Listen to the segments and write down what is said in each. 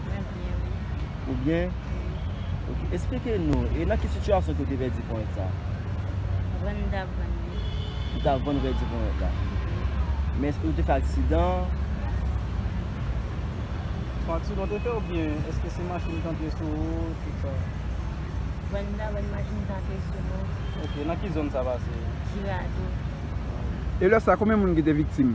Mwen byen wi. Ou byen? Wi. Ok, esplike nou, e nan ki sitiyasyon ke ou te pèdi ponyèt sa? Vann m tap vann li. Ou tap vann ou pèdi ponyèt la? Wi. Men eske ou te fè aksidan? Fè aksidan ou te fè oubyen eske se machin ki antre sou ou tout sa? Vann m tap vann machin te antre sou mwen. Ok, nan ki zòn sa pase? Jirado. E lè sa konbyen moun ki te viktim?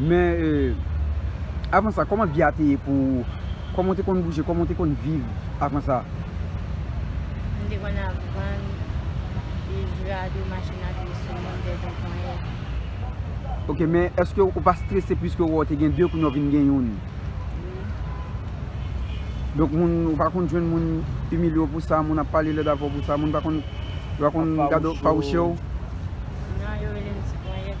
Men avan sa kòman vi a te ye pou ou? Kòman ou te konn bouje? Kòman ou te konn viv avan sa? M te konn ap vann bijoui a de machin a pye sou moun de jan ponyèt. Ok men eske ou pa strese pwiske ou wè ou te gen 2 kounye ou vin gen youn? Wi. Donk moun ou pa konn jwenn moun imilye ou pou sa, moun ap pale lèd avè ou pou sa, moun pa konn gade ou, fawouche ou? Non yo rele m ti ponyèt.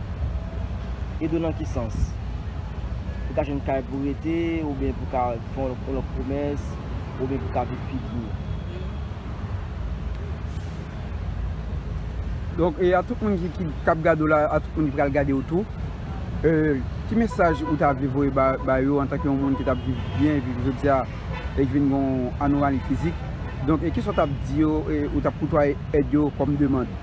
Ede w nan ki sans? Pou w ka jwenn kay pou w rete, oubyen pou w ka fè yon lòt komès, oubyen pou w ka viv pi byen. Donk, e a tout moun ki ap gade w la, a tout moun ki pral gade w tou, ki mesaj ou ta vle voye ba yo antanke yon moun ki t ap viv byen, viv jodi a, e ki vin gen yon anomali fizik? Donk, e kisa w t ap di yo, ou t ap koutwaye èd yo kòm demand?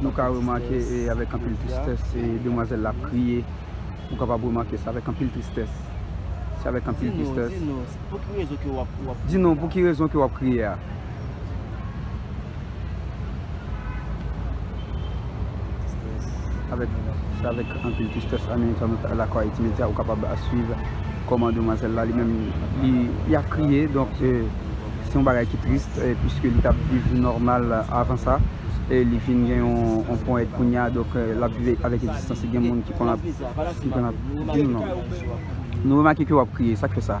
Nou ka remake avèk anpil tristès demwazèl la ap kriye. Ou kapab remake sa avèk anpil tristès. Se avèk anpil tristès. Di nou, di nou, pou ki rezon ke w ap kriye a? Di nou, pou ki rezon ke w ap kriye a? Se avèk anpil tristès Ane Entènasyonal Lakou Ayiti Medya ou kapab swiv kòman demwazèl la li menm li ap kriye. Se yon bagay ki tris puiske li tap viv nòmal avan sa e li vin gen yon pon èd kounye a donk lap viv avèk egzistans li gen moun ki konn ap ki konn ap di nou non nou remake ke wap kriye sak fè sa.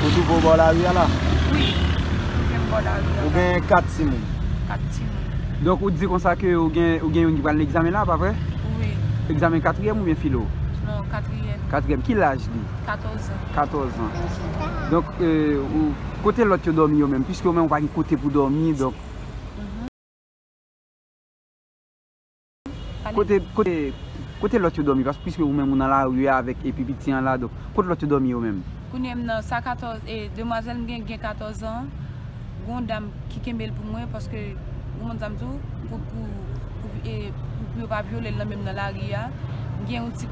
Ou twouve w bò lari a la? Wi, m twouve m bò lari a la. Ou gen 4 timoun? 4 timoun. Donk ou di konsa ke ou gen youn ki pral nan egzamen la, pa vre? Wi. Egzamen katriyèm oubyen filo? Non, katriyèm. Katriyèm. Ki laj li? 14 an. 14 an. Donk, kote lòt yo dòmi yo menm? Piske ou menm ou pa gen kote pou dòmi, donk. Kote lòt yo dòmi paske piske ou menm ou nan lari a avèk epi piti an la donk kot lòt yo dòmi yo menm. Kounye m nan sa 14 e demwazèl m gen gen 14 an gon dam ki kenbe l pou mwen paske ou konn sa m di w pou pou pou yo pa vyole l nan menm nan lari a m gen yon ti.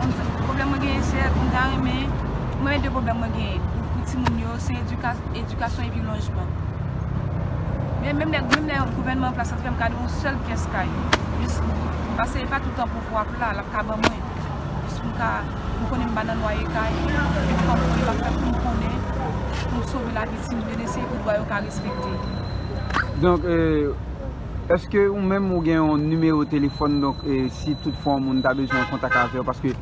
Mwen menm pwoblèm mwen genyen se mwen ta renmen, mwen gen 2 pwoblèm mwen genyen pou timoun yo se edikasyon epi lojman. Men menm lè menm lè gouvènman an plas la fè m ka gen yon sèl pyès kay, jis pase e pa tout tan pouvwa ap la, l ap ka ban mwen. Jis pou m ka, m konnen m pa nan lwaye kay, m pa pou m ap fè pou m konnen, pou m sove lavi timoun yo, n eseye pou dwa yo ka respekte. Donk, Eske ou menm ou gen yon nimewo telefòn donk si tout fwa yon moun ta bezwen an kontak avèw paske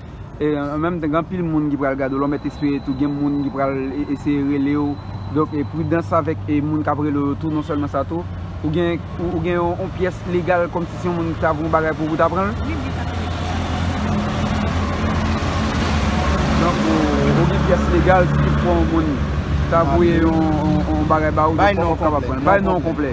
an menm tan gen anpil moun ki pral gade w lè w mèt espere tou gen moun ki pral eseye rele w donk pridans avèk moun kap rele w yo tou non sèlman sa tou ou gen ou gen yon pyès legal kòm si se yon moun ki ta voun bagay pou ou pou ta pran l wi wi sa pral ede donk ou gen pyès legal si tout fwa yon moun ta voye yon bagay ba ou donk ou pap kapab pran l bay non w konplè.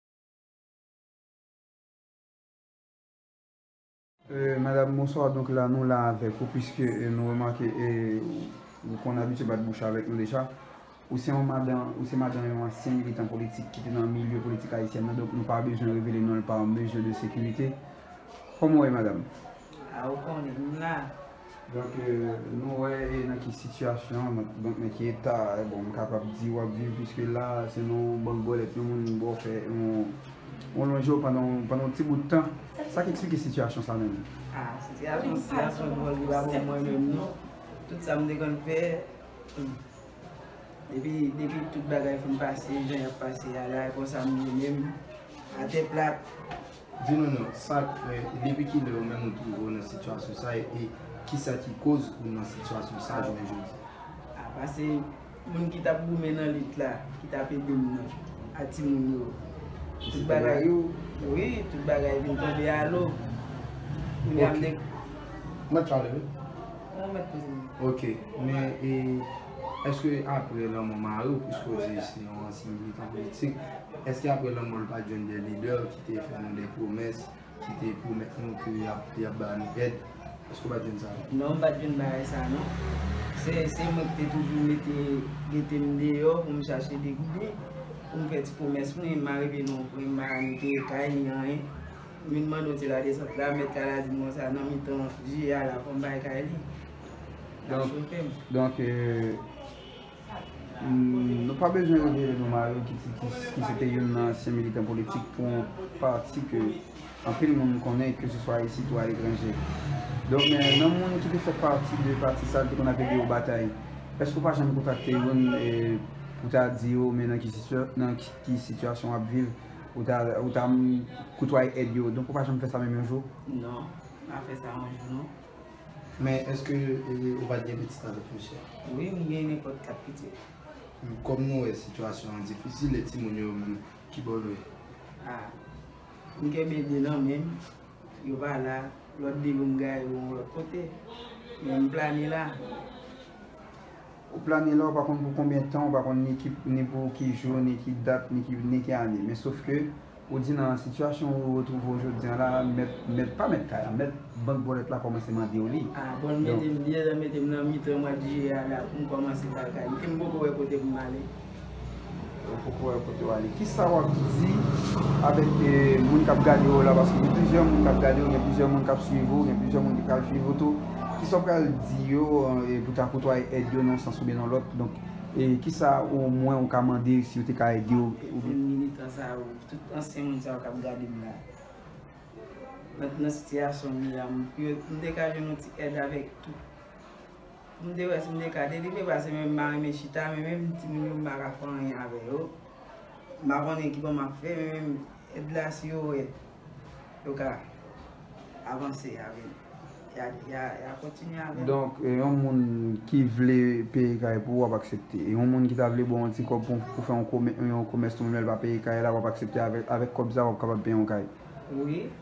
Madame bonsoir donk la nou la avèk ou pwiske nou remake ou konn abitye bat bouch avèk nou deja ou se yon madan ou se madan yon ansyen militan politik ki te nan milye politik ayisyèn nan donk nou pa bezwen revele non pa mezi de sekirite kòman ou ye madame. A ou konnen m la. Donk nou wè e nan ki sitiyasyon, donk nan ki eta bon m kapab di w ap viv piske la se nan yon bank bòlèt yon moun ba w fè yon lonje w pandan yon ti bout tan. Sa k eksplike sitiyasyon sa menm? A, sitiyasyon sa se yon bon deba pou mwen menm non. Tout sa m te konn fè, depi tout bagay fin pase jan y ap pase a la, konsa m menm atè plat. Di nou non, sa k fè e depi ki lè ou menm ou twouve w nan sitiyasyon sa e ki sa ki koz ou nan sitiyasyon sa jounen jodi a? A pase moun ki t ap goumen nan lit la, ki t ap ede m nan, a timoun yo, tout bagay yo, wi, tout bagay vin tonbe a lo. Kounye a m de. Ok. Mwen t pale wi. Mwen mwen t poze m. Ok. Men e. Eske apre lanmò mari w, pwiske w di se yon ansyen militan politik, eske apre lanmò l pat jwenn de lidè ki te fè nou de pwomès, ki te pwomèt nou ke y ap ba nou èd? Eske w pat jwenn sa tou? Non, m pat jwenn bagay sa non. Se mwen ki te toujou mete gete m deyò pou m chache de gouden, pou m fè ti pwomès mwen. M arive nan yon pwen m pa ka netwaye kay ni anyen. M vin mande yon ti ladesant la, mèt kay la di m konsa nan mitan jiye a la fò m bay kay li. Donk, nou pa bezwen revele non mari w ki se te youn nan ansyen militan politik pou yon pati ke anpil moun konnen ke se swa isit ou aletranje. Donk, nan moun ki te fè pati de pati sa l te konn ap ede yo batay, èske ou pa janm kontakte youn pou ta di yo men nan ki sitiyasyon wap viv, ou ta koutwaye èd yo? Donk ou pa janm fè sa menm yon jou? Non, m pa fè sa yon jou non. Men eske ou pat gen pitit avèk misye? Wi m gen nenpòt 4 pitit. Kòm nou wè sitiyasyon an difisil e timoun yo menm kibò nou ye? A, m kenbe 2 nan men m, yo pa la, lòt 2 yo m gaye yo yon lòt kote, men m plane la. Ou plane la ou pa konn pou konbyen tan, ou pa konn ni ki ni pou ki jou, ni ki dat, ni ki ni ki ane. Men sof ke ou di nan sitiyasyon ou retwouve w jodi an la, mèt, mèt, pa mèt kay la, mèt bank bòlèt la kòmanse mande w li. A bon l mete m, li deja mete m nan mitan mwad jiyè a la pou m kòmanse bagay. Epi m poko wè kote pou m ale. Ou poko wè kote w ale. Kisa w ap di avèk moun k ap gade w la? Paske gen plizyè moun k ap gade w, gen plizyè moun k ap suiv ou, gen plizyè moun ki pral suiv ou tou. Kisa w pral di yo pou ta kotwaye èd yo nan yon sans oubyen nan lòt? Donk, kisa omwen ou ka mande si yo te ka ede w? Moun militan sa yo, tout ansyen moun sa yo k ap gade m la, nan sitiyasyon m ye a, m te ka jwenn yon ti èd avèk tout. M te wè si m te ka delivre pase menm m pa renmen chita men menm timoun yo m pa ka fè anyen avè yo. M pa konnen kibo m ap fè men menm èd la si yo wè yo ka avanse avè m ya kontinye avè m. Donk yon moun ki vle peye kay pou ou w ap aksepte. E yon moun ki ta vle ba w yon ti kòb pou w fè yon komès nou menm lè l pa peye kay la w ap aksepte avèk kòb sa w ap kapab peye yon kay? Wi.